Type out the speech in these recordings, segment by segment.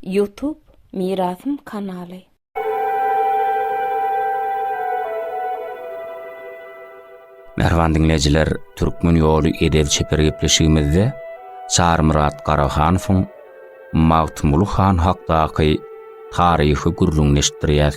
Ýutub Mirasym kanaly. Mähriban diňleýjiler, Türkmen ýoly edeb çeper gepleşigimizde Çarymyrat Garahanowyň Magtymguly han hakdaky taryhy gürrüňini eşitdirýäs.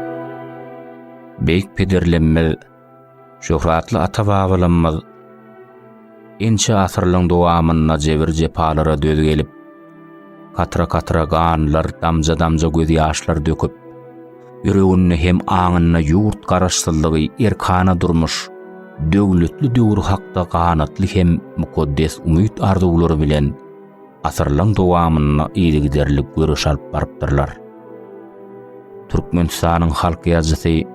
Beýik pederlerimiz, şöhratly ata-babalarymyz ençe asyrlaryň dowamynda jebir-jepalara döz gelip, katra-katra ganlar, damja-damja gözýaşlar döküp, ýüreginde hem aňynda ýurt Garaşsyzlygy, erkana durmuş, döwletli döwür hakda ganatly hem mukaddes umyt-arzuwlary bilen asyrlaryň dowamynda yzygiderli göreş alyp barypdyrlar. Türkmenistanyň halk ýazyjysy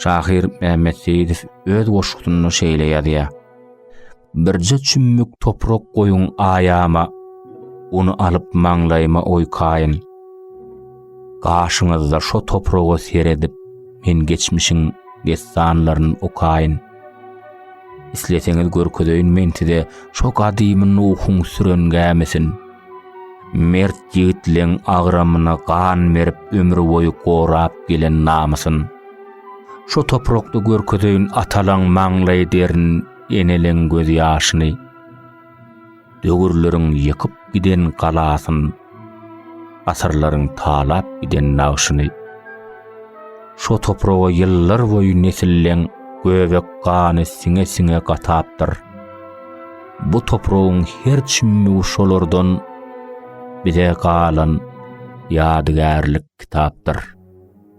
şahyr Mehmet Seýidow öz goşgusynda şeýle ýazýar. Birje çümmük toprak goýuň aýama, ony alyp maňlaýyma oýkaýyn. Gaşyňyzda şo topraga seredip, men geçmişiň dessanlaryny okaýyn. Isleseňiz görkezeýin men size şo gadymy Nuhuň süren gämisini. Mert ýigitleň agramyna gan berip ömür boýy gorap gelen namysyn. Şo toprakda görkezeýin atalaň maňlaý derini, eneleň gözýaşyny. Döwürleriň ýykyp giden galasyn, Asyrlaryň talap giden nagşyny. Şo topraga ýyllar boýy nesilleň Göbek gany siňe-siňe gatapdyr. Bu topragyň her çümmügi şolardan Bize galan ýadygärlik kitapdyr.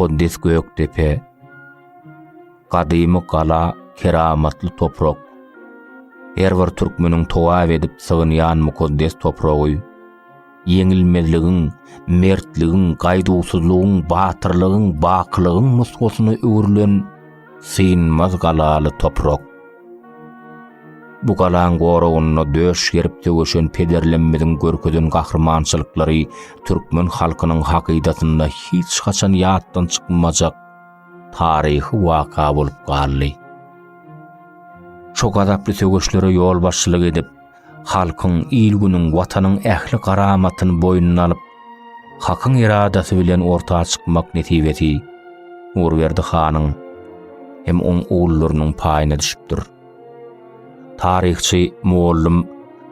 mukaddes Gökdepe, gadymy gala, keramatly toprak. Her bir türkmeniň towap edip sygynýan mukaddes topragy. ýeňilmezligiň, mertligiň, gaýduwsyzlygyň, batyrlygyň, bakylygyň nusgasyna öwrülen synmaz galaly toprak. Bu galaň goragynda döş gerip söweşen pederlemmiziň görkezen gahrymançylyklary türkmen halkynyň hakydasynda hiç haçan ýatdan çykmajak taryhy waka bolup galdy. Şo gazaply söweşlere ýolbaşçylyk edip, Halkyň, il-günüň, Watanyň ähli garamatyny boýnuna alyp, Hakyň eradasy bilen orta çykmak nesibesi Nurberdi hanyň hem oň ogullarynyň paýyna düşüpdir. Taryhçy, mugallym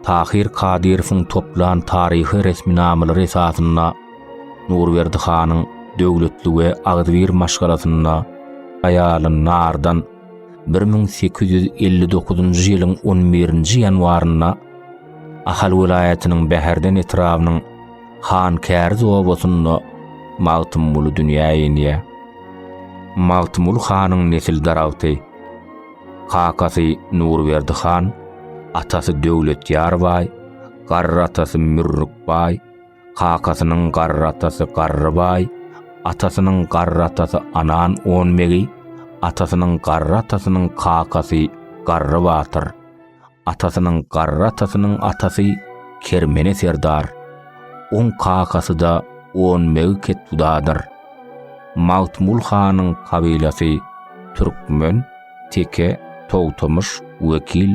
Tahyr Kadyrowyň toplan taryhy resminamalary esasynda Nurberdi hanyň döwletli we agzybir maşgalasynda aýaly Nardan 1859-njy ýylyň 11-nji ýanwarynda Ahal welaýatynyň Bäherden etrabynyň Han Käriz obasynda Magtymguly dünýä inýär. Magtymguly hanyň nesil daragty. Kakasy Nurberdi han, atasy Döwletýar baý, garry atasy Mürrük baý, Kakasynyň garry atasy Garrybaý, atasynyň garry atasy Anan on begi, atasynyň garry atasynyň kakasy Garry batyr, atasynyň garry atasynyň atasy Kermene serdar, oň kakasy-da on begi ketbudadyr. Magtmul hanyň kabilasy türkmen, teke, togtamyş, wekil,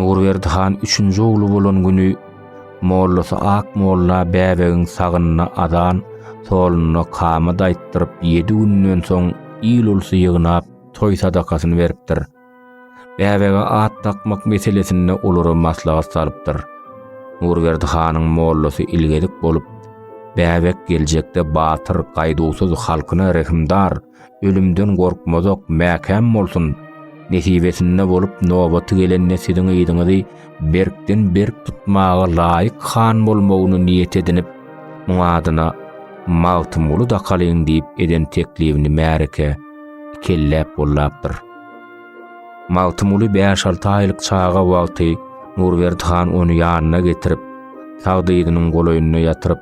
Nurberdi han üçünji ogly bolan güni mollasy Ak molla bäbegiň sagynyna azan, soluna kamat aýtdyryp, ýedi günden soň il-ulsy ýygnap, toý sadakasyny beripdir. Bäbege at dakmak meselesinde olara maslahat salypdyr. Nurberdi hanyň mollasy ilgezik bolup, Bäbek geljekde batyr, gaýduwsyz, halkyna rehimdar, ölümden gorkmazak, mäkäm bolsun. Nesibesinde bolup, nobaty gelende siziň yzyňyzy berkden-berk tutmaga laýyk han bolmagyny niýet edinip, muňa adyna Magtymguly dakalyň diýip eden teklibini märeke kelläp bollapdyr. Magtymguly bäş-alty aýlyk çaga wagty Nurberdi han ony ýanyna getirip, sag dyzynyň golaýynda ýatyryp,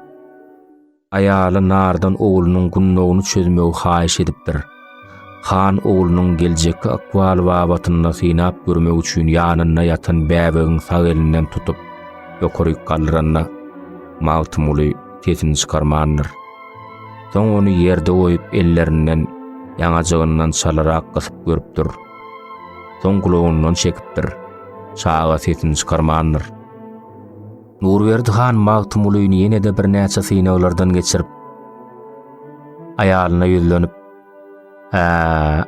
aýaly Nardan oglunyň gundagyny çözmegi haýyş edipdir. Han oglunyň geljekki ykbaly babatynda synap görmek üçin ýanynda ýatan bäbegiň sag elinden tutup, ýokaryk galdyranda, Magtymguly sesini çykarmandyr. Soň ony ýerde goýup ellerinden ýaňajygyndan çalarak gysyp görüpdir. Soň gulagyndan çekipdir. Çaga sesini çykarmandyr. Nurberdi han Magtymgulyny ýene-de birnäçe synaglardan geçirip, aýalyna ýüzlenip, Hä,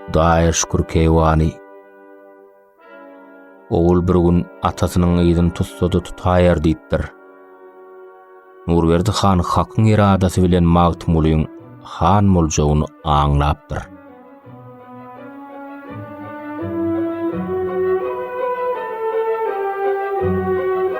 Hudaýa şükür keýwany. Ogul bir gün atasynyň yzyny tutsa-da tutaýar diýipdir. Nurberdi han hakyň eradasy bilen Magtymgulyň han boljagyny aňlapdyr.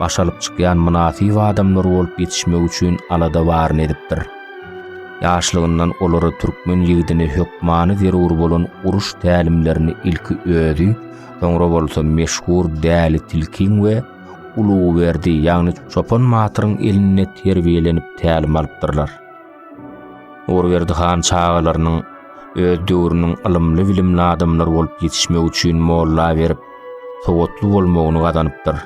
baş alyp çykýan mynasyp adamlar bolup ýetişmegi üçin alada baryny edipdir. Ýaşlygyndan olara türkmen ýigdine hökmany zerur bolan uruş tälimlerini ilki özi, soňra bolsa meşhur Däli tilkiň we Ulugyberdi, ýagny Çopan batyryň elinde terbiýelenip tälim alypdyrlar. Ogurberdi han çagalarynyň öz döwrüniň ylymly-bilimli adamlary bolup ýetişmegi üçin molla berip, sowatly bolmagyny gazanypdyr.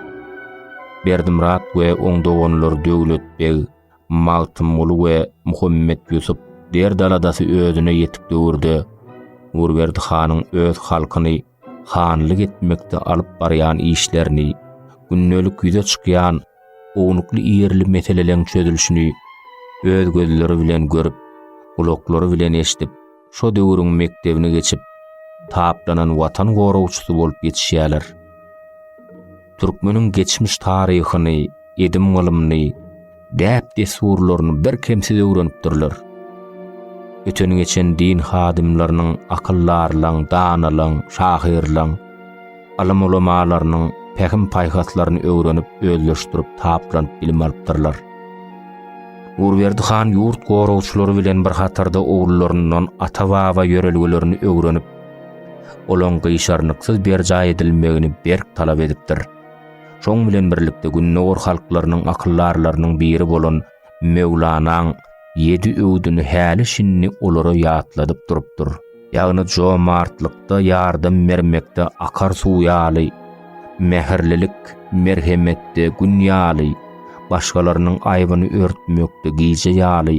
Berdimyrat we oň doganlary Döwlet beg, Magtymguly we Muhammet Ýusup derd-aladasy özüne ýetik döwürde Ogurberdi hanyň öz halkyny hanlyk etmekde alyp barýan işlerini, gündelik ýüze çykýan ownukly-ýerli meseleleň çözülişini öz gözleri bilen görüp, gulaklary bilen eşidip, şo döwrüň mekdebini geçip, taplanan Watan goragçysy bolup ýetişýärler. Türkmeniň geçmiş taryhyny, edim-gylymyny, däp-dessurlaryny birkemsiz öwrenipdirler. Öten-geçen din hadymlarynyň, akyldarlaň, danalaň, şahyrlaň, alym-ulamalarynyň pähim-paýhaslaryny öwrenip, özleşdirip, taplanyp bilim alypdyrlar. Nurberdi han ýurt goragçylary bilen bir hatarda ogullaryndan ata-baba ýörelgelerini öwrenip, olaň gyşarnyksyz berjaý edilmegini berk talap edipdir. Şoň bilen birlikde Gündogar halklarynyň akyldarlarynyň biri bolan Möwlanaň ýedi öwdüni häli-şindi olara ýatladyp durupdyr. Ýagny jomartlykda, ýardam bermekde akar suw ýaly, mähirlilik, merhemetde gün ýaly, başgalarynyň aýbyny örtmekde gije ýaly,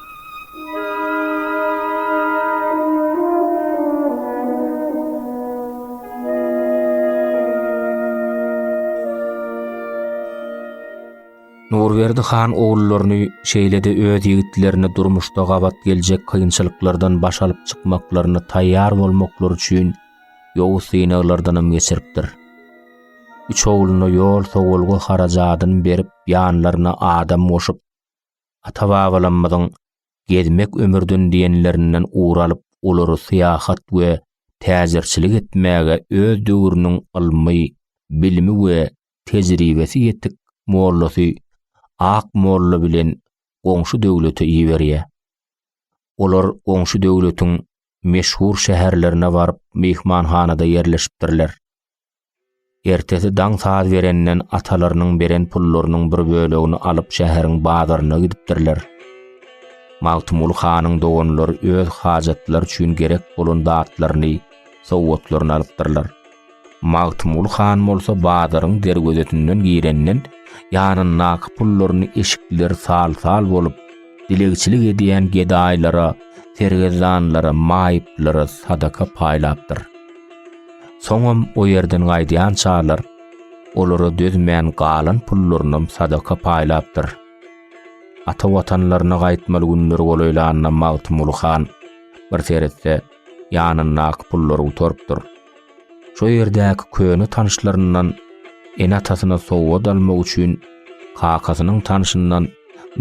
Nurberdi han ogullaryny şeýle-de öz ýigitlerini durmuşda gabat geljek kynçylyklardan baş alyp çykmaklaryna taýýar bolmaklary üçin ýowuz synaglardanam geçiripdir. Üç ogluna ýol-sowalga harajadyny berip, ýanlaryna adam goşup, Ata-babalarymyzyň Gezmek ömürden diýenlerinden ugur alyp, olary syýahat we täjirçilik etmäge öz döwrüniň ylmy, bilimi we tejribesi ýetik mollasy Ak molla bilen goňşy döwlete iberýär. Olar goňşy döwletiň meşhur şäherlerine baryp myhmanhanada ýerleşipdirler. Ertesi daň saz berenden atalarynyň beren pullarynyň bir bölegini alyp şäheriň bazaryna gidipdirler. Magtymguly hanyň doganlary öz hajatlary üçin gerek bolan zatlaryny, sowgatlaryny alypdyrlar. Magtymguly han bolsa bazaryň derwezesinden girenden ýanyndaky pullaryny eşikler sal-sal bolup, dilegçilik edýän gedaýlara, sergezdanlara, maýyplara sadaka paýlapdyr. Soňam o ýerden gaýdýan çarlar olara dözmän galan pullarynam sadaka paýlapdyr. Ata watanlaryna gaýtmaly günleri golaýlanda Magtymguly han bir seretse, ýanyndaky pullary gutarypdyr. Şo ýerdäki köne tanyşlaryndan ene-atasyna sowgat almak üçin kakasynyň tanşyndan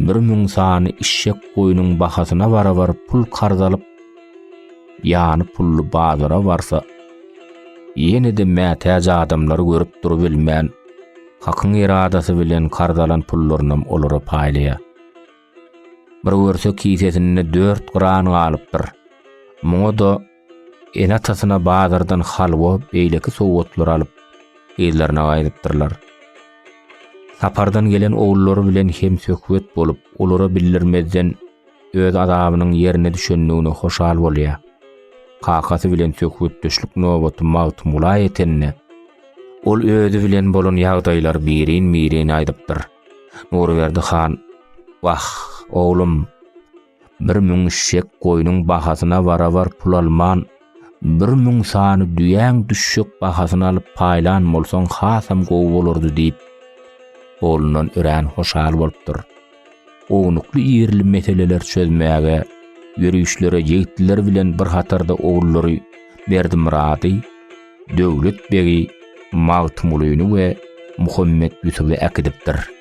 bir müň sany işşek-goýnuň bahasyna barabar pul karz alyp, ýany pully bazara barsa, ýene-de mätäç adamlary görüp durubilmän, Hakyň eradasy bilen karz alan pullarynam olara paýlaýar. Bir görse kisesinde dört gran galypdyr. Muňa-da Ene-atasyna bazardan halwa, beýleki sowgatlary alyp, yzlaryna gaýdypdyrlar. Sapardan gelen ogullary bilen hem söhbet bolup, olara bildirmezden öz azabynyň ýerine düşendigine hoşal bolýar. Kakasy bilen söhbetdeşlik nobaty Magtymgula ýetende, ol özi bilen bolan ýagdaýlary birin-birin aýdypdyr. Nurberdi han, Wah, oglum! Bir müň şek goýnuň bahasyna barabar pul alman, bir müň sany düýäň düşjek bahasyny alyp paýlan bolsaň hasam gowy bolardy diýip, oglundan örän hoşal bolupdyr. Ownukly-irili meseleler çözmäge, ýörişlere ýigitler bilen bir hatarda ogullary Berdimyrady, Döwlet begi Magtymgulyny we Muhammet Ýusuby äkidipdir.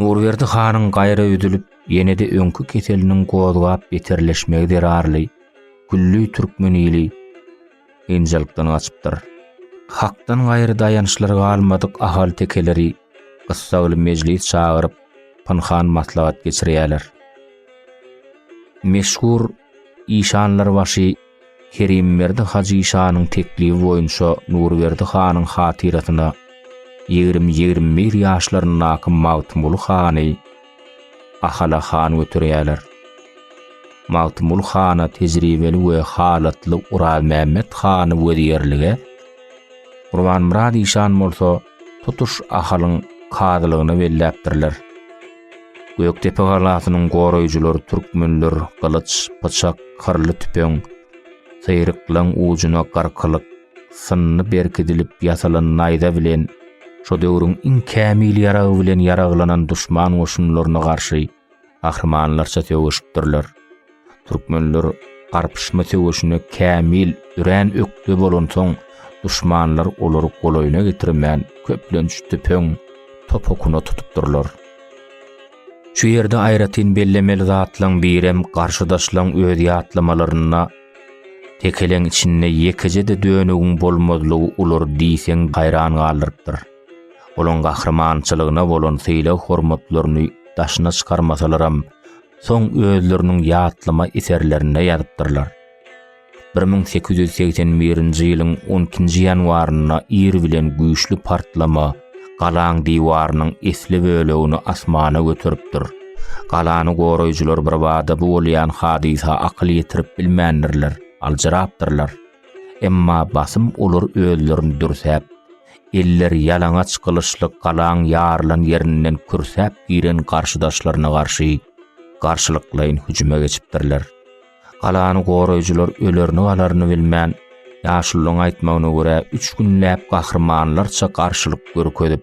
Nurberdi hanyň gaýra üzülip, ýene-de öňki keseliniň gozgap beterleşmegi zerarly, külli türkmen ili kynçylykdan gaçypdyr. Hakdan gaýry daýançlary galmadyk ahaltekeleri gyssagly mejlis çagyryp, pynhan maslahat geçirýärler. Meşhur işanlarbaşy Kerimberdi Hajy şanyň teklibi boýunça Nurberdi hanyň hatyrasyna ýigrimi-ýigrimi bir ýaşlaryndaky Magtymguly hany Ahala han göterýärler. Magtymguly hana tejribeli we halatly Orazmämmet hany wezirlige, Gurbanmyrat işan bolsa tutuş Ahalyň kazylygyna belläpdirler. Gökdepe galasynyň goraýjylary türkmenler gylyç, pyçak, kyrly tüpeň, syryklaň ujuna garkylyk, synly berkidilip ýasalan naýza bilen şo döwrüň iň kämil ýaragy bilen ýaraglanan duşman goşunlaryna garşy Gahrymanlarça söweşipdirler. Türkmenler garpyşma söweşine kämil örän ökde bolansoň, duşmanlar olary golaýyna getirmän, köplenç tüpeň, top okuna tutupdyrlar. Şu ýerde aýratyn bellemeli zatlaň birem garşydaşlaň öz ýatlamalarynda tekeleň içinde ýekeje-de dönügiň bolmazlygy olary diýseň haýran galdyrypdyr. Olaň gahrymançylygyna bolan sylag-hormatlaryny daşyna çykarmasalaram, soň özleriniň ýatlama eserlerinde ýazypdyrlar. Bir müň sekiz ýüz segsen birinji ýylyň on ikinji ýanwarynda ir bilen güýçli partlama galaň diwarynyň esli bölegini asmana göteripdir. Galany goraýjylar birbada bu bolýan hadysa akyl ýetirip bilmändirler, aljyrapdyrlar. Emma basym olar özlerini dürsäp, elleri ýalaňaç gylyçly galaň ýarylan ýerinden kürsäp giren garşydaşlaryna garşy garşylyklaýyn hüjüme geçipdirler. Galany goraýjylar ölerini-galaryny bilmän, ýaşulyň aýtmagyna görä, üç günläp gahrymanlarça garşylyk görkezip,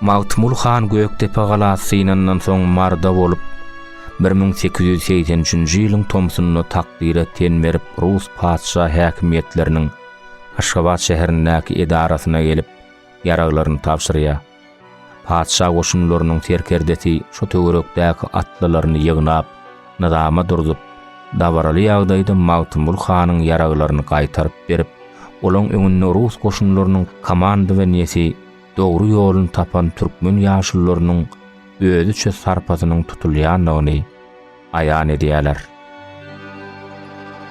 Magtymguly han Gökdepe galasy synandan soň marda bolup, bir müň sekiz ýüz segsen üçünji ýylyň tomsunda takdyra ten berip rus patyşa häkimiýetleriniň Aşgabat şäherindäki edarasyna gelip, ýaraglaryny tabşyrýar. Patyşa goşunlarynyň serkerdesi şu töwerekdäki atlylaryny ýygnap, nyzama durzup, dabaraly ýagdaýda Magtymguly hanyň ýaraglaryny gaýtaryp berip, olaň öňünde rus goşunlarynyň komandowaniýesi dogry ýoluny tapan türkmen ýaşulularynyň özüçe sarpasynyň tutulýandygyny, aýan edýärler.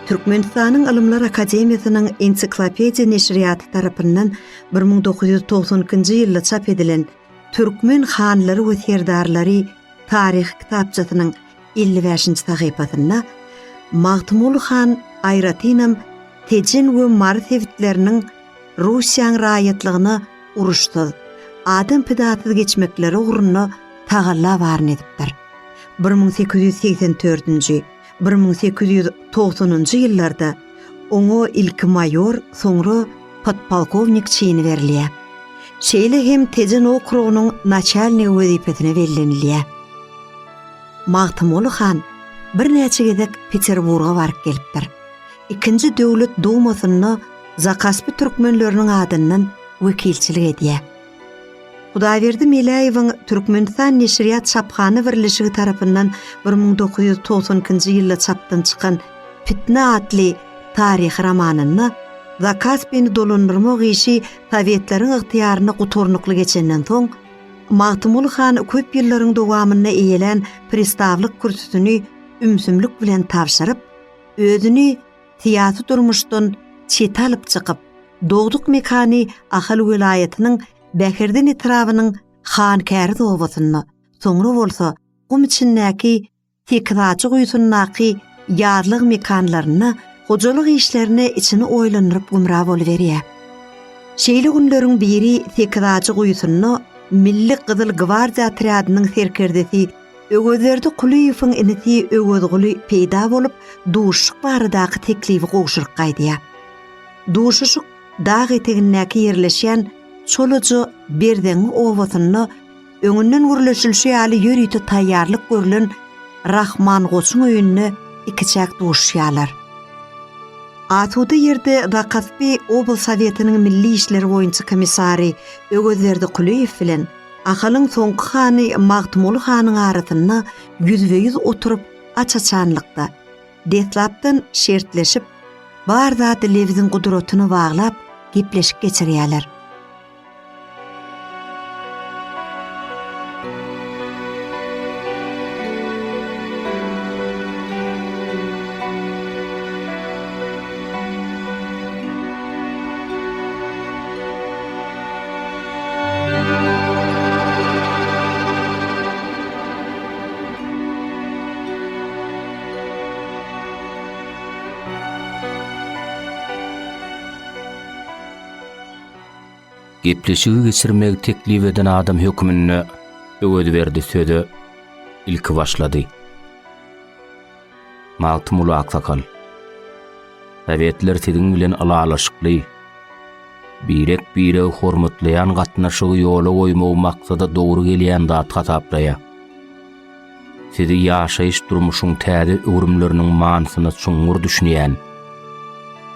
Türkmenistanyň Ylymlar akademiýasynyň Ensiklopediýa neşirýaty tarapyndan bir müň dokuz ýüz togsan ikinji ýylda çap edilen Türkmen hanlary we serdarlary taryhy kitapçasynyň elli bäşinji sahypasynda Magtymguly han aýratynam Tejen we Mary sebitleriniň Russiýaň raýatlygyna uruşsyz, adam pidasyz geçmekleri ugrunda tagalla baryny edipdir. Bir müň sekiz ýüz segsen dördünji, bir müň sekiz ýüz togsanynjy ýyllarda oňa ilki maýor, soňra podpolkownik çini berilýär. Şeýle hem Tejen okrugynyň naçalnigi wezipesine bellenilýär. Magtymguly han birnäçe gezek Peterburga baryp gelipdir. Ikinji döwlet dumasynda zakaspy türkmenleriniň adyndan wekilçilik edýär. Hudaýberdi Meläýewiň Türkmenistan neşirýat çaphana birleşigi tarapyndan bir müň dokuz ýüz togsan ikinji ýylda çapdan çykan Pitne atly taryhy romanynda Zakaspyny dolandyrmak işi sowetleriň ygtyýarynda guturnykly geçenden soň, Magtymguly han köp ýyllaryň dowamynda eýelän pristawlyk kürsüsini ümsümlik bilen tabşyryp, Özüni syýasy durmuşdan çete alyp çykyp, dogduk mekany Ahal welaýatynyň Bäherden etrabynyň Hankäriz obasynda, soňra bolsa gum içindäki Sekizajy guýusyndaky ýazlyk mekanlarynda hojalyk işlerine içini oýlandyryp gümra boluberýär. Şeýle günleriň biri Sekizajy guýusynda Milli Gyzyl gwardiýa otrýadynyň serkerdesi Öwezberdi Kulyýewiň inisi Öwezguly peýda bolup, duşuşyk baradaky teklibi gowşuryp gaýdýar. Duşuşyk dag etegindäki ýerleşýän Çolaja Berzeňňi obasynda öňünden gürleşilişi ýaly ýörite taýýarlyk görlen Rahman goçuň öýünde ikiçäk duşuşýarlar. Asuda ýerde Zakaspi oblsowetiniň milli işler boýunça komissary Öwezberdi Kulyýew bilen Ahalyň soňky hany Magtymguly hanyň arasynda ýüzbe-ýüz oturyp aç-açanlykda, deslapdan şertleşip, bar zady lebziň gudratyna baglap, gepleşik geçirýärler. Gepleşigi geçirmegi teklip eden adam hökmünde Öwezberdi söze ilki başlady. Magtymguly aksakal, Sowetler siziň bilen ylalaşykly, birek-biregi hormatlaýan gatnaşygy ýola goýmagy maksada dogry gelýän zat hasaplaýar. Sizi ýaşaýyş-durmuşyň täze öwrümleriniň manysyna çuňňur düşünýän,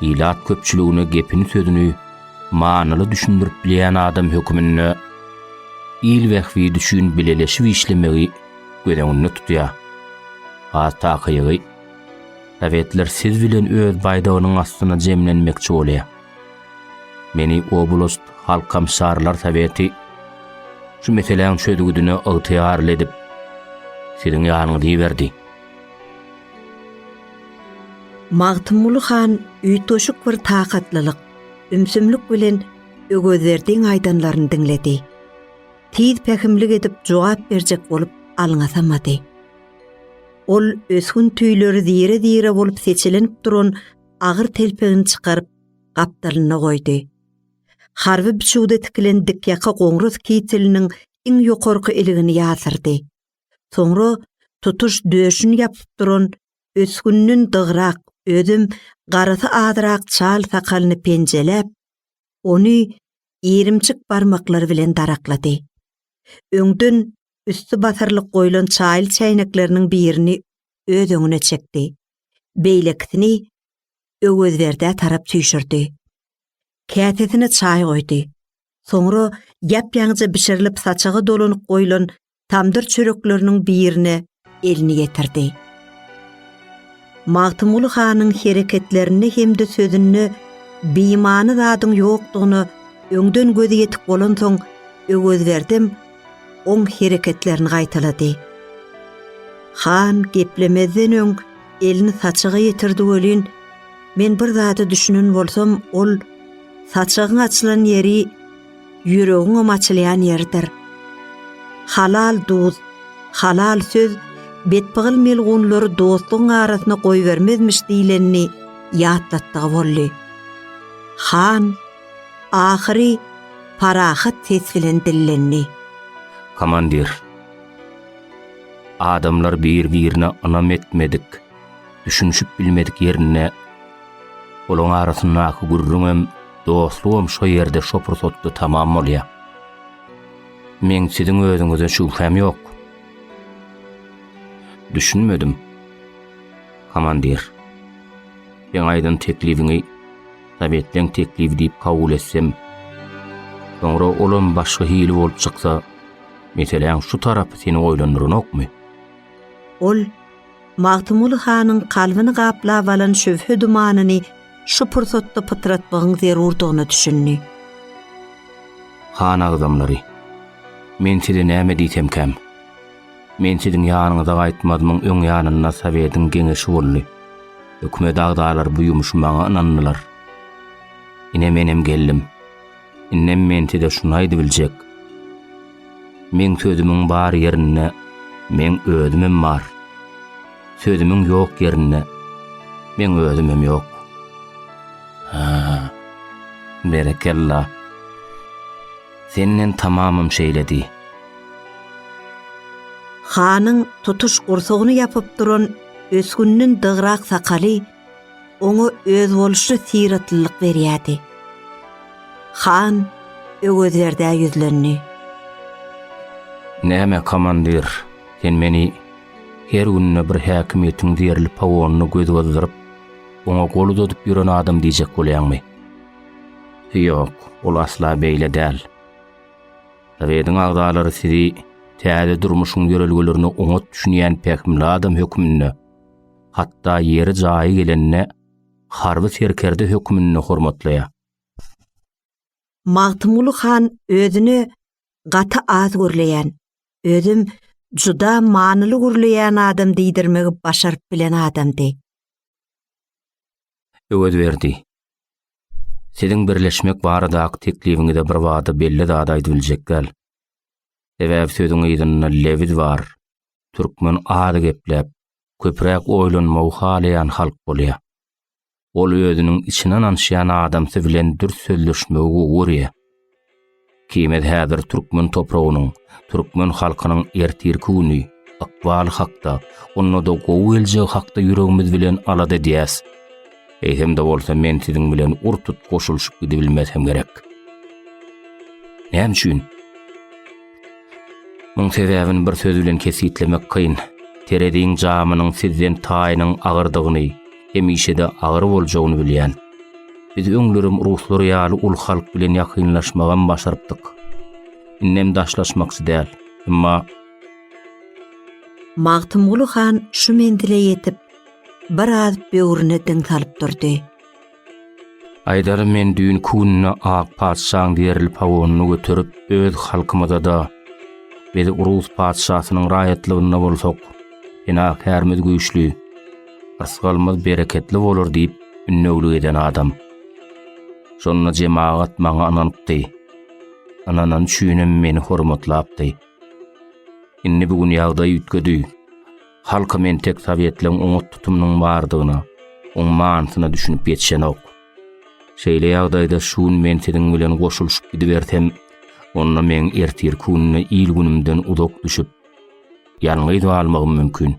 ilat köpçüligine gepini-sözüni manyly düşündirip bilýän adam höküminde il bähbidi üçin bileleşip işlemegi göz öňünde tutýar. Has takygy, sowetler siz bilen öz baýdagynyň astyna jemlenmekçi bolýar. Meni oblast halkomşarlar soweti şu meseläň çözgüdine ygtyýarly edip, siziň ýanyňyza iberdi. Magtymguly han üýtgeşik bir takatlylyk, ümsümlik bilen Öwezberdiň aýdanlaryny diňledi. tiz pähimlik edip jogap berjek bolup alňasamady. Ol ösgün tüýleri zire-zire bolup seçelenip duran agyr telpegini çykaryp, gapdalynda goýdy. Harby biçüwde tikilen dikýaka goňras kiteliniň iň ýokarky iligini ýasyrdy. Soňra tutuş döşüni ýapyp duran ösgünden dygrak, özem garasy azyrak çal sakalyny penjeläp, ony irimçik barmaklary bilen daraklady. Öňden üsti basyrlyk goýlan çaýyl çäýnekleriniň birini öz öňüne çekdi. Beýlekisini Öwezberdä tarap süýşürdi. Käsesine çaý goýdy. Soňra ýap-ýaňyja bişirilip saçaga dolanyp goýlan tamdyr çörekleriniň birine elini ýetirdi. Magtymguly hanyň hereketlerinde hem-de sözünde bimany zadyň ýokdugyna öňden gözi ýetik bolansoň, Öwezberdem oň hereketlerini gaýtalady. Han geplemezden öň elini saçaga ýetirdi welin, men bir zada düşünen bolsam, ol, saçagyň açylan ýeri ýüregiňem açylýan ýeridir. Halal duz, halal söz betpygyl melgunlary dostlugyň arasyna goýbermezmiş diýlenini ýatlatdygy boldy. Han, ahyry, parahat ses bilen dillendi. Komandir, adamlar bir-birine ynam etmedik. düşünişip bilmedik ýerinde olaň arasyndaky gürrüňem, dostlugam şo ýerde şo pursatda tamam bolýar. Meň siziň özüňize şübhäm ýok. Düşünmedim. Komandir. Sen aýdan teklibiňi Sowetleň teklibi diýip kabul etsem, soňra olam başga hili bolup çyksa, meseläň şu tarapy seni oýlandyranokmy? Ol Magtymguly hanyň kalbyny gaplap alan şübhe dumanyny şu pursatda pytratmagyň zerurdygyna düşündi. Han agzamlary! Men size näme diýsemkäm? Men siziň ýanyňyza gaýtmazmyň öň ýanynda sowetiň geňeşi boldy. Hökümet agzalary bu ýumşy maňa ynandylar. Ine menem geldim. Indem men size şuny aýdybiljek. Meň sözümiň bar ýerinde meň özümem bar. Sözümiň ýok ýerinde meň özümem ýok. Ha. Berekella. Senden tamamym şeýle diý. Hanyň tutuş gursagyny ýapyp duran ösgünden dygrak sakaly Oňa özboluşly syratlylyk berýärdi. Han Öwezberdä ýüzlendi. Näme, komandir, sen meni her günde bir häkimiýetiň zerli pawonyna göz gyzdyryp, oňa gol uzadyp ýören adam diýjek bolýaňmy? Ýok, ol asla beýle däl. Sowetiň agzalary sizi täze durmuşyň ýörelgelerine oňat düşünýän pähimli adam hökmünde, hatda ýeri jaýy gelende harby serkerde hökmünde hormatlaýar. Magtymguly han özüni gaty az gürleýän, özüm juda manyly gürleýän adam diýdirmegi başaryp bilen adamdy. Öwezberdi. Siziň birleşmek baradaky teklibiňize birbada belli zat aýdyp biljek däl. Sebäbi sözüň yzynda lewiz bar. Türkmen az gepläp, köpräk oýlanmagy halaýan halk bolýar. Ol özüniň içine ynanşýan adamsy bilen dürs sözleşmegi gowy görýär. Kimez häzir türkmen topragynyň, türkmen halkynyň ertirki güni, ykbaly hakda, onda-da gowy geljegi hakda ýüregimiz bilen alada edýäs. Eýsem-de bolsa men siziň bilen ur-tut goşulyşyp gidibilmesem gerek. Näme üçin? Muň sebäbini bir söz bilen kesgitlemek kyn. Tereziň jamynyň sizden taýynyň agyrdygyny, hemişe-de agyr boljagyny bilýän. Biz öňlerem ruslar ýaly uly halk bilen ýakynlaşmagam başarypdyk. Indem daşlaşmakçy däl. Emma. Magtymguly han şu menzile ýetip, biraz böwrüne diň salyp durdy. Aýdarym men düýn kününe ak patyşaň zerli pawonyny göterip, öz halkymyza-da, biz rus patyşasynyň raýatlygynda bolsak, penakärimiz güýçli, rysgalymyz bereketli bolar diýip, ünnewlik eden adam. Şonda jemagat maňa ynanypdy. Ynanany üçinem meni hormatlapdy. Indi bu gün ýagdaý üýtgedi. Halkam entek sowetleň oňat tutumynyň bardygyna, oň manysyna düşünip ýetişenok. Şeýle ýagdaýda şu gün men siziň bilen goşulyşyp gidibersem, onda meň ertirki gününe il-günümden uzak düşüp, ýalňyz galmagym mümkin.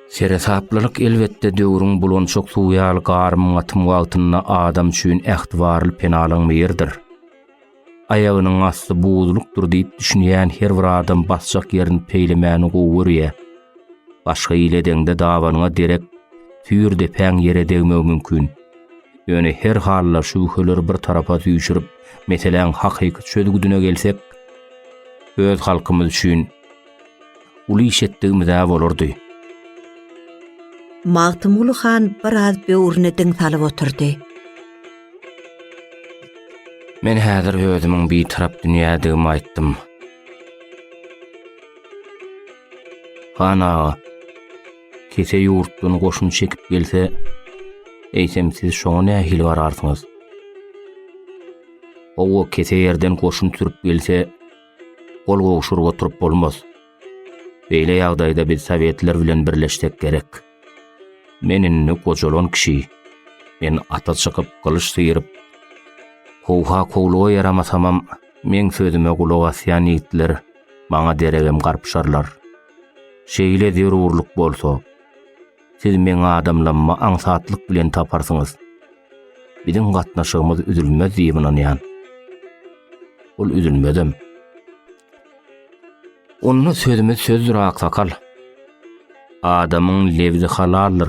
Seresaplylyk elbetde döwrüň bulançak suwy ýaly garym-gatym wagtynda adam üçin ähtibarly penalanma ýerdir. Aýagynyň asty buzlukdyr diýip düşünýän her bir adam basjak ýerini peýlemäni gowy görýär. Başga ile deňde dabanyňa derek tüýr depäň ýere degmegi mümkin. Ýöne her halda şübheleri bir tarapa süýşürip, meseläň hakyky çözgüdine gelsek, öz halkymyz üçin Uly iş etdigimiz-ä bolardy. Magtymguly han biraz böwrüne diň salyp oturdy. Men häzir özümiň bitarap dünýädigimi aýtdym. Han aga, kese ýurtdan goşun çekip gelse, eýsem siz şoňa nähili gararsyňyz? Owo, kese ýerden goşun sürüp gelse, Gol gowşuryp oturyp bolmaz. Beýle ýagdaýda biz sowetler bilen birleşsek gerek. Men indi gojalan kişi. Men ata çykyp, gylyç syýryp, kowha kowluga ýaramasamam, meň sözüme gulak asýan ýigitler maňa deregem garpyşarlar. Şeýle zerurlyk bolsa, Siz meň adamlarymy aňsatlyk bilen taparsyňyz. Biziň gatnaşygymyz üzülmez diýip ynanýan. Ol üzülmezem. Onda sözümiz sözdür aksakal. Adamyň lebzi halaldyr.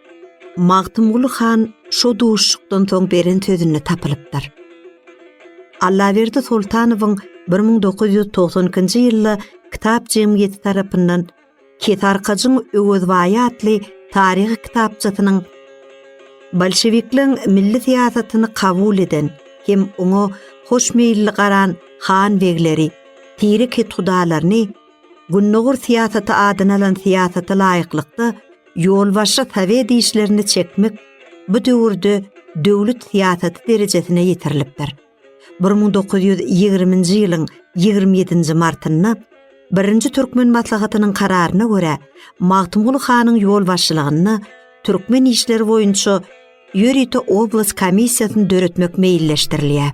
Magtymguly han şo duşuşykdan soň beren sözünde tapylypdyr. Allaberdi Soltanowyň bir müň dokuz ýüz togsan ikinji ýylda Kitap jemgyýeti tarapyndan Kesarkajyň Öwezbaýy atly taryhy kitapçasynyň bolşewikleň milli syýasatyny kabul eden hem oňa hoşmeýilli garan han-begleri, tire kethudalaryny Gündogar syýasaty adyny alan syýasata laýyklykda Ýolbaşçy sowet işlerini çekmek bu döwürde döwlet syýasaty derejesine ýetirilipdir. Bir müň dokuz ýüz ýigriminji ýylyň ýigrimi ýedinji martynda Birinji türkmen maslahatynyň kararyna görä, Magtymguly hanyň ýolbaşçylygynda türkmen işleri boýunça ýörite oblast komissiýasyny döretmek meýilleşdirilýär.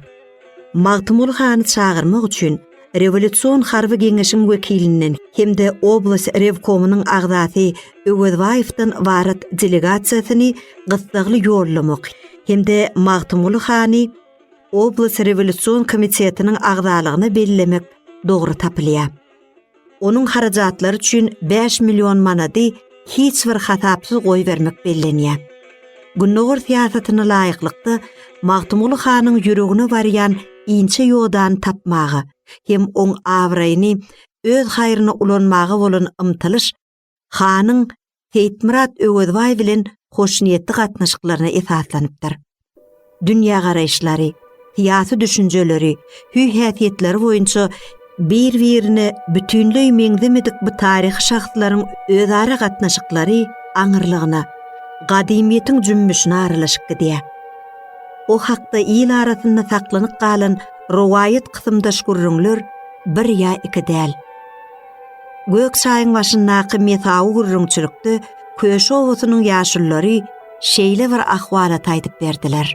Magtymguly hany çagyrmak üçin Rewolýusion harby geňeşiň wekilinden hem-de oblast rewkomynyň agzasy Öwezbaýewden ybarat delegasiýasyny gyssagly ýollamak hem-de Magtymguly hany oblast rewolýusion komitetiniň agzalygyna bellemek dogry tapylýar. Onuň harajatlary üçin bäş million manady hiç bir hasapsyz goýbermek bellenýär. Gündogar syýasatyna laýyklykda, Magtymguly hanyň ýüregine barýan inçe ýodany tapmaga hem oň abraýyny öz haýryna ulanmaga bolan ymtylyş hanyň Seýitmyrat Öwezbaý bilen hoşniýetli gatnaşyklaryna esaslanypdyr. Dünýägaraýyşlary, syýasy düşünjeleri, hüý-häsiýetleri boýunça bir-birine bütinleý meňzemedik bu taryhy şahslaryň özara gatnaşyklary aňyrlygyna, gadymyýetiň jümmüşine aralaşyp gidýär. O hakda il arasynda saklanyp galan rowaýat kysymdaş gürrüňler bir ýa iki däl. Gök çaýyň başyndaky mesawy gürrüňçilikde Köşi obasynyň ýaşululary şeýle bir ahwalat aýdyp berdiler.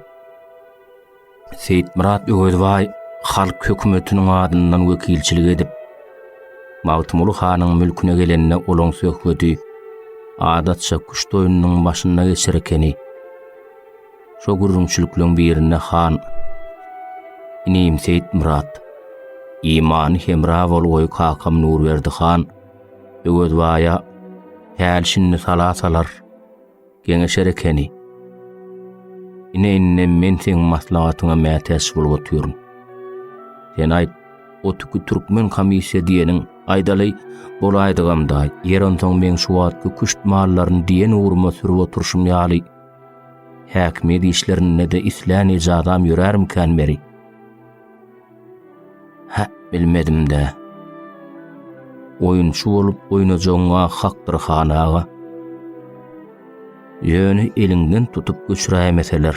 Seýitmyrat Öwezbaý halk hökümetiniň adyndan wekilçilik edip, Magtymguly hanyň mülküne gelende olaň söhbedi adatça küşt oýnunyň başynda geçer ekeni. Şo gürrüňçilikleriň birinde han, Inim Seýitmyrat, imany hemra bol goý kakam Nurberdi han, Öwezbaýa häl-şindi sala salar, geňeşer ekeni. Ine indem men seň maslahatyňa mätäç bolup otyryn. Sen aýt, o tüki türkmen komissiýa diýeniň, aýdaly, bolaýdygamda, ýer onsoň meň şu wagtky küşt mallaryny diýen ugruma sürüp oturşym ýaly, Häkimiýet işlerinde-de islän ejadam ýörärmikän beri? Hä, bilmedim-dä. Oýunçy bolup oýnajagyň-a hakdyr, han aga. Ýöne eliňden tutup göçüräýmeseler.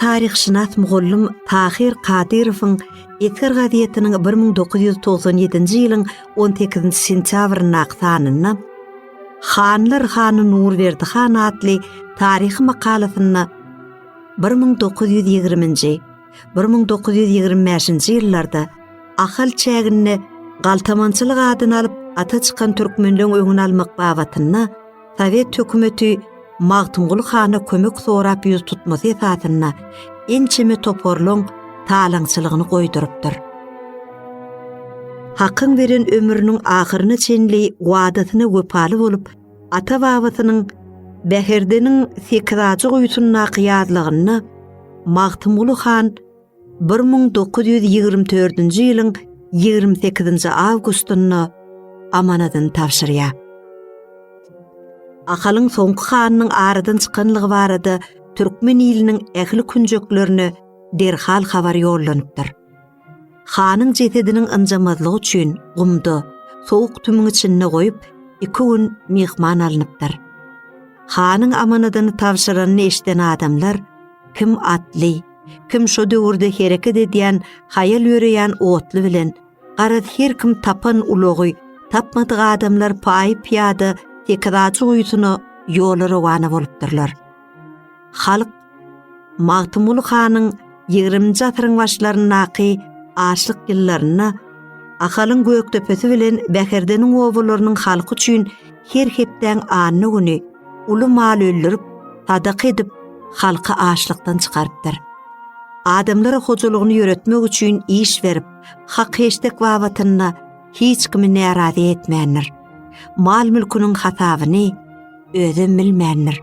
Taryhşynas mugallym Tahyr Kadyrowyň Eser gazetiniň 1997-nji ýylyň 18-nji sentýabryndaky sanynda Hanlar hany Nurberdi han atly taryhy makalasynda bir müň dokuz ýüz ýigriminji, bir müň dokuz ýüz ýigrimi bäşinji ýyllarda Ahal çäginde galtamançylyk adyny alyp ata çykan türkmenleň öňüni almak babatynda Sowet hökümeti Magtymguly hana kömek sorap ýüz tutmasy esasynda ençeme toparlaryň talaňçylygyny goýdurypdyr. Hakyň beren ömrüniň ahyryna çenli wadasyna wepaly bolup, ata-babasynyň Bäherdeniň sekizajy guýusyndaky ýazlygynda Magtymguly han bir müň dokuz ýüz ýigrimi dördünji ýylyň ýigrimi sekizinji awgustynda amanadyny tabşyrýar. Ahalyň soňky hanynyň aradan çykanlygy barada türkmen iliniň ähli künjeklerine derhal habar ýollanypdyr. Hanyň jesediniň ynjamazlygy üçin gumda, sowuk tümüň içinde goýup, iki gün myhman alnypdyr. Hanyň amanadyny tabşyranyny eşiden adamlar kim atly, Kim şo döwürde hereket edýän, haýal ýöreýän otly bilen, garaz, her kim tapan ulagy, tapmadyk adamlar paý-pyýada Tekizajy guýusyna ýola rowana bolupdyrlar. Halk Magtymguly hanyň ýigriminji asyryň başlaryndaky açlyk ýyllarynda Ahalyň Gökdepesi bilen Bäherdeniň obalarynyň halky üçin her hepdäň anna güni uly mal öldürip, sadaka edip, halky açlykdan çykarypdyr. Adamlara hojalygyny ýöretmek üçin iş berip, hak-heşdek babatynda hiç kimi närazy etmändir. Mal-mülküniň hasabyny özem bilmändir.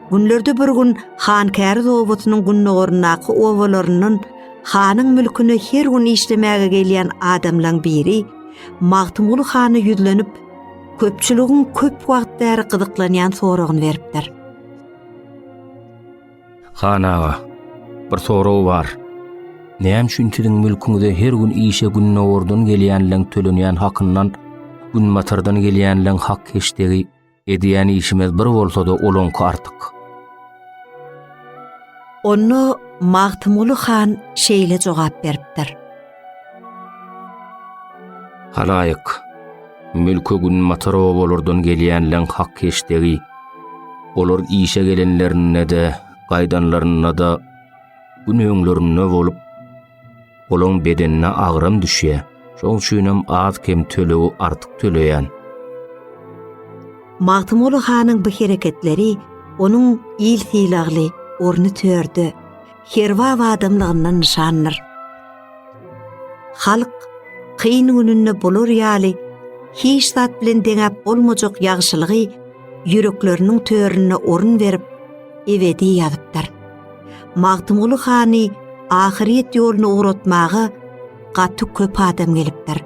Günlerde bir gün han käriz obasynyň gündogaryndaky obalaryndan hanyň mülküne her gün işlemäge gelýän adamlaň biri Magtymguly hana ýüzlenip, köpçüligiň köp wagt bäri gyzyklanýan soragyny beripdir. Han aga, bir sorag bar. Näme üçin siziň mülküňize her gün işe gündogardan gelýänleň tölenýän hakyndan günbatardan gelýänleň hak heşdegi Edýän işimiz bir bolsa-da olaňky artyk. Onda Magtymguly han şeýle jogap beripdir. Halaýyk, mülke günbatar obalardan gelýänleň hak heşdegi, olar işe gelenlerinde-de, gaýdanlarynda-da, gün öňlerinde bolup, Olaň bedenine agram düşýär. Şoň üçin hem az-kem tölegi artyk töleýän. Magtymguly hanyň bu hereketleri onuň il sylagly, orny törde, herbap adamlygyndan nyşandyr. Halk kyn gününde bular ýaly hiç zat bilen deňäp bolmajak ýagşylygy ýürekleriniň töründe orun berip, ebedi ýazypdyr. Magtymguly hany ahyryýet ýoluna ugratmaga gaty köp adam gelipdir.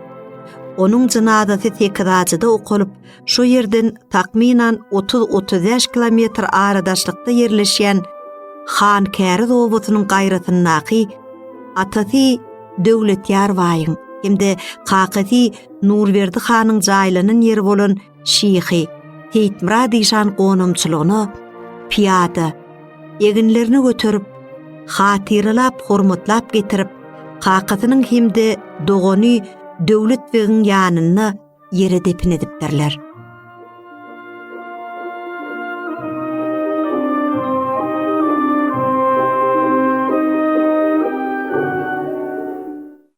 Onuň jynazasy Tekizajyda okalyp, şo ýerden takmynan 30-35 kilometr aradaşlykda ýerleşýän Hankäriz obasynyň gaýrasyndaky atasy Döwletýar baýyň hem-de kakasy Nurberdi hanyň jaýlanan ýeri bolan şyhy Seýitmyrat işan gonamçylygyna pyýada, eginlerini göterip, hatyralap, hormatlap getirip, kakasynyň hem-de dogany Döwlet begiň ýanynda ýere depin edipdirler.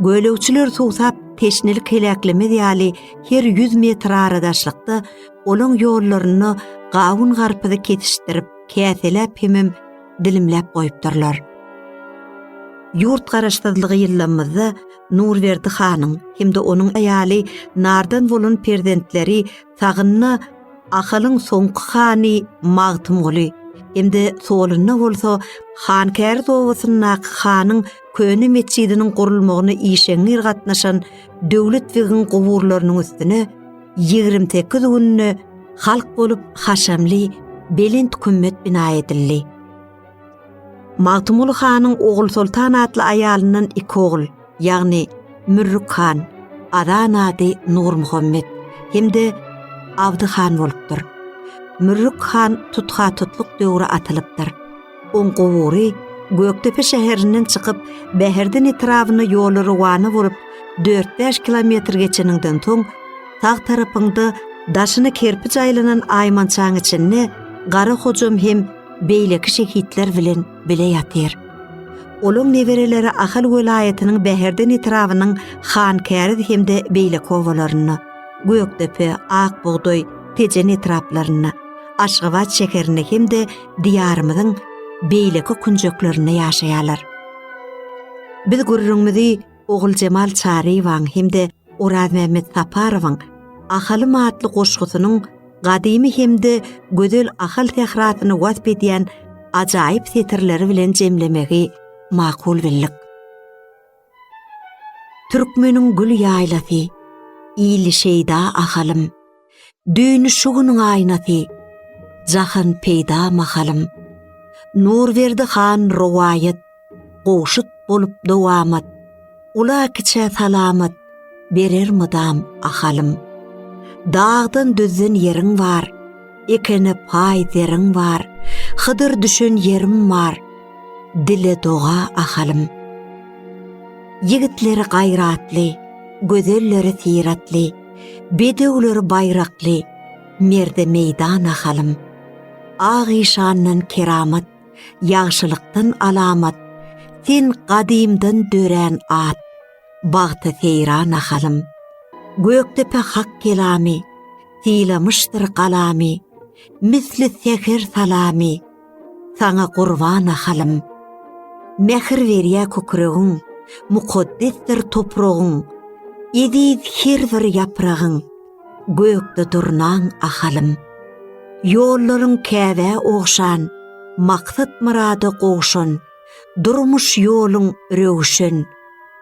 Gölegçiler suwsap, teşnelik heläklemez ýaly her ýüz metr aradaşlykda olaň ýollarynda gawun-garpyzy kesişdirip, käseläp hemem dilimläp goýupdyrlar. Ýurt garaşsyzlygy ýyllarymyzda Nurberdi hanyň hem-de onuň aýaly Nardan bolan perzentleri sagynda Ahalyň soňky hany Magtymguly hem-de solunda bolsa Hankäriz obasyndaky hanyň köne metjidiniň gurulmagyna işeňňir gatnaşan Döwlet begiň guburlarynyň üstüne ýigrimi sekiz günde halk bolup haşamly belent kümmet bina edildi. Magtymguly hanyň Ogulsoltan atly aýalyndan iki ogul, ýagny Mürrük han, Azan ady Nurmuhammet hem-de Abdy han bolupdyr. Mürrük han tutha-tutluk döwri atylypdyr. Oň gubury Gökdepe şäherinden çykyp, Bäherden etrabyna ýoly rowana bolup, dört-bäş kilometr geçeniňden soň, sag tarapyňda daşyna kerpiç aýlanan aýmançaň içinde Gara Hojam hem beýleki şehitler bilen bile ýatyr. Olaň nebereleri Ahal welaýatynyň Bäherden etrabynyň Hankäriz hem-de beýleki obalarynda, Gökdepe, Akbugdaý, Tejen etraplarynda, Aşgabat şäherinde hem-de Diýarymyzyň beýleki künjeklerinde ýaşaýarlar. Biz gürrüňimizi Oguljemal Çaryýewaň hem-de Orazmämmet Saparowyň Ahalym atly goşgusynyň gadymy hem-de gözel Ahal sährasyny wasp edýän ajaýyp setirleri bilen jemlemegi makul bildik. Türkmeniň gül ýaýlasy, Ili şeýda Ahalym, Düýni şu günüň aýnasy, Jahan peýda mahalym. Nurberdi han rowaýat, Gowşut bolup dowamat, Ula-kiçä salamat, berer mydam ahalym. Dagdan düzden ýeriň bar, ekene paý zeriň bar, hydyr düşen ýerim bar, dile doga ahalym. Ýigitleri gaýratly, gözelleri syratly, bedewleri baýrakly, merde meýdan ahalym. Ak işandan keramat, ýagşylykdan alamat, sen gadymdan dörän at. bagta seýra nahalym. Gökdepe hak kelamy, sylamyşdyr galamy, misli säher salamy, saňa gurban nahalym. Mähir berýä kükregiň, mukaddesdir topragyň, eziz her bir ýapragyň, gökde durnaň Ahalym. Ýollaryň Käbä ogşan, maksat-myrada gowşan, Durmuş ýoluň röwşen,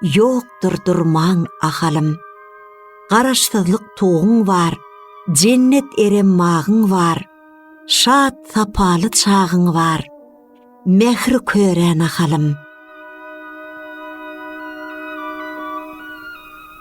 ýokdur durmaň ahalym. Garaşsyzlyk tuguň bar, jennet erem bagyň bar, Şat sapaly çagyň bar, mähri köre nahalym.